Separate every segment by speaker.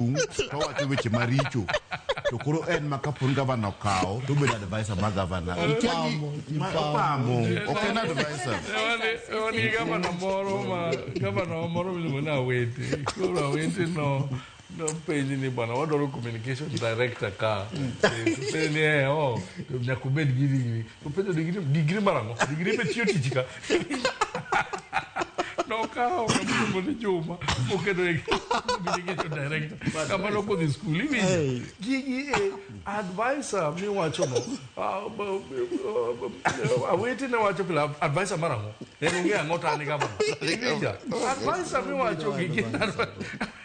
Speaker 1: Tung' to wacho weche maricho to koro en ma kaponi gavana okawo to obedo advisor ma gavana Ikia gi- ma- opamo ok en advisor wan gi
Speaker 2: gavana moro ma gavana wa moro miluongo ni awete koro awete no nopenji ni bwana wadwaro communication director ka Sasa ni eh, oh, to nyaka ubed gi digri To penjo digri digri mara no. Digri be tiyo tich ka. Nokawo kamoro ni Juma oketo e communication director. Kamano kodhi skul iwinjo. Gigi e advisor miwacho no. Ah, b- b- ah, Awete ne wacho pile advisor mara no. En ong'eyo ang'o to an e gavana. Iwinja. Advisor miwacho gigi.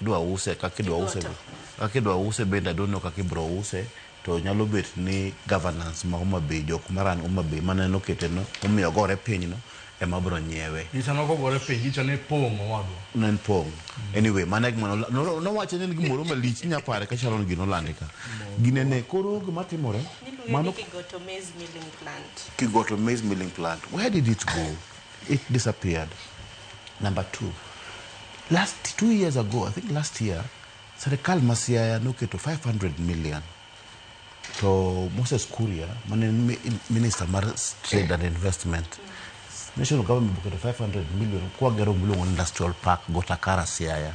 Speaker 1: Idwa use kaka idwa use Kigoto. kaka idwa use bende I don't know kaka ibro use to nyalo bet ni governance ma Homa Bay jok ma run Homa Bay mane nokete no momiyo ogore piny no ema bro nyiewe. Nyicha nok ogore piny,
Speaker 2: nyicha ne pong' owadwa. Ne en pong'.
Speaker 1: Anyway, mano e gima nola- no- nowacho ni en gimoro malich inya pare ka Sharon gino olande ka. Gine ne koro gima timore Niluonge ni mano Kigoto
Speaker 3: Maize Milling Plant.
Speaker 1: Kigoto maize milling plant. Where did it go? It disappeared. Number two, last two years ago, I think last year, serikal ma Siaya noketo 500 million to Moses Kuria mane en mi- minister mar trade and investment national government boketo 500 million kwagero miluongo ni industrial park Gotakara Siaya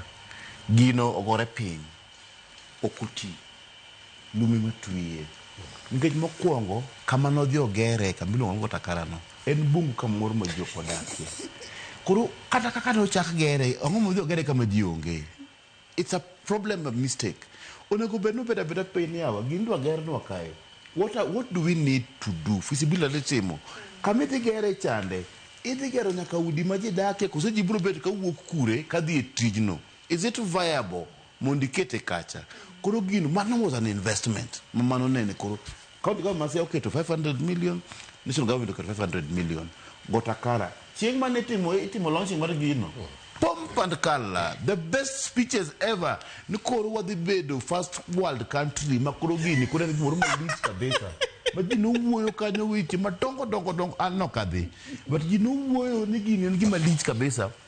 Speaker 1: gino ogore piny ok oti, lum ema twiye. Nikech mokuongo kama nodhi ogere kama iluongo ni Watakara no en bungu kamoro ma ji ok odakie. Koro kata kaka nochak gere, ang'o modhi ogere kama ji onge? It's a problem, a mistake. Onego bed nobet abeta piny ni yawa gini idwa gernwa kae, what are, what do we need to do, feasibility timo. Kama idhi gere chande, idhi gero nyaka udi ma ji dakie koso ji biro bet kawuok kure kadhi e tijno? Is it viable mondo ikete kacha? Koro gino mano was an investment ma mano nene koro county government ma Siaya oketo 500 million, national government oketo 500 million. Gotakara chieng' mane itimo itimo launching mar gino pomp and kala the best speeches ever ni koro wadhi bedo first world country ma koro gini koro en gimoro malich kabisa ma ji nowuoyo kanyo weche madongo dongo dongo an nokadhi but ji nowuoyo ni gini en gima lich kabisa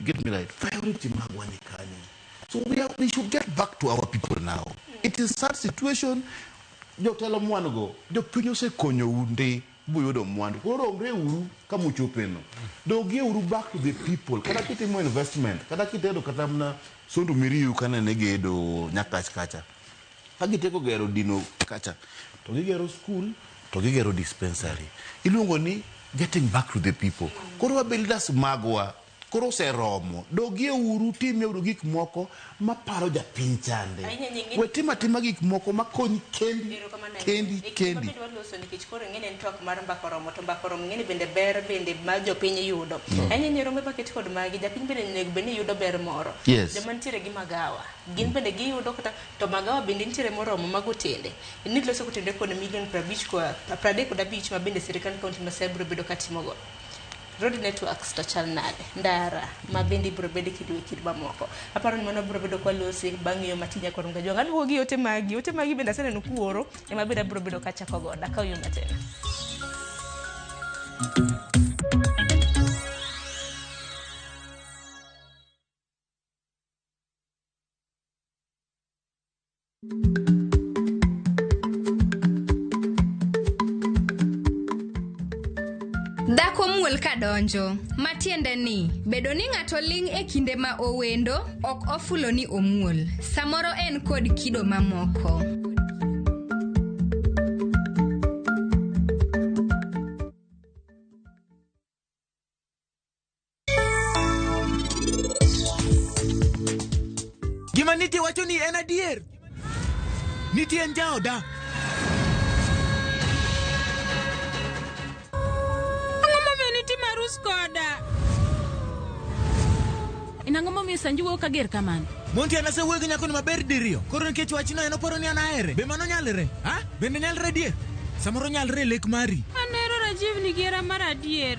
Speaker 1: You get me right? Priority magwa ni kanye. So we, are, we should get back to our people now. It is sad situation. Jotelo mwandu go, jopiny osekonyo undi buyudo mwandu. Koro romre uru kama uchopeno. Dogie uru back to the people. Kata kitimo investment, kata kitedo kata mna sondu miriu kana ne gedo nyakach kacha. Ka gitieko gero dino kacha to gigero skul to gigero dispensary. Iluongo ni getting back to the people. Koro wa builders magwa koro oseromo. Dogie uru timie uru gik moko maparo japiny chande. Ahinya nying'e- We tim atima gik moko makonyi kendi Erokamano ahinya. kendi E kinde kendi.
Speaker 3: mabende waloso nikech koro ing'e ni en twak mar mbaka oromo to mbaka oromo ing'e ni bende ber bende ma jopiny yudo. Ahinya nyirombe maket kod magi japiny bende onego bed ni yudo ber moro. Yes. Joma nitiere gi magawa gin bende giyudo kata To magawa bende nitiere moromo mag otende. Inid loso otende kod million prabich kod pradek kod abich ma bende sirkand county ma Siaya biro bedo ka timo go. Road networks to chal nade? Ndara ma bende ibiro bede kido e kido mamoko. Aparo ni mano wabiro bedo kwa lose bang' yo matin nyaka Orunga Jwanga. Aduogo gi ote magi. Ote magi bende aseneno kuoro ema bende abiro bedo ka chako godo. Akaw yo matin.
Speaker 4: Dhako muol ka donjo, ma tiende ni bedo ni ng'ato ling' e kinde ma owendo ok ofulo ni omuol, samoro en kod kido mamoko.
Speaker 5: Gima Niti wacho ni en adier. Niti en jaoda. Ang'o
Speaker 6: momiyo Niti marus koda? En ang'o momiyo Sanju wuoyo kager kamano? Monti an asewuoyo gi
Speaker 5: nyakoni maber diriyo. Koro nikech wachno en oparo ni an ahere. Be mano nyalre? Ha? Bende nyalre adier? Samoro nyalre e lek mari. An ahero Rajiv ni
Speaker 6: gi hera mar adier.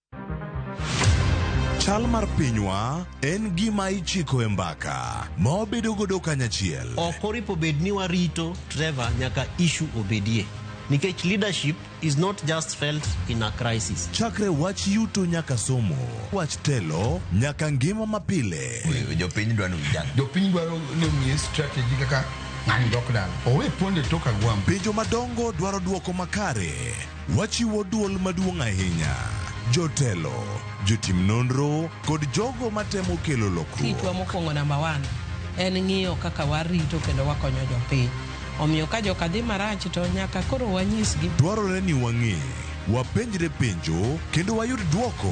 Speaker 7: Chal mar pinywa en gima ichiko e mbaka ma wabedo godo kanyachiel. ok oripo bed
Speaker 8: ni warito Trevor nyaka issue obedie nikech leadership is not just felt in a crisis Chakre wach
Speaker 7: yuto nyaka somo, wach telo nyaka ngima mapile. Jopiny dwaro
Speaker 9: vijana. Jopiny dwaro ni omiye strategy kaka ng'ani dok dala. Owe pondo e tok agwambo. Penjo madongo
Speaker 7: dwaro dwoko makare. Wachiwo duol maduong' ahinya. Jotelo, jotim nonro, kod jogo matemo kelo lokruok. Kitwa mokwongo namba
Speaker 10: one en ng'iyo kaka warito kendo wakonyo jopiny. Omiyo ka joka dhi marach to nyaka koro wanyisgi. Dwarore
Speaker 7: ni wang'e, wapenjre
Speaker 10: penjo,
Speaker 7: kendo wayud dwoko.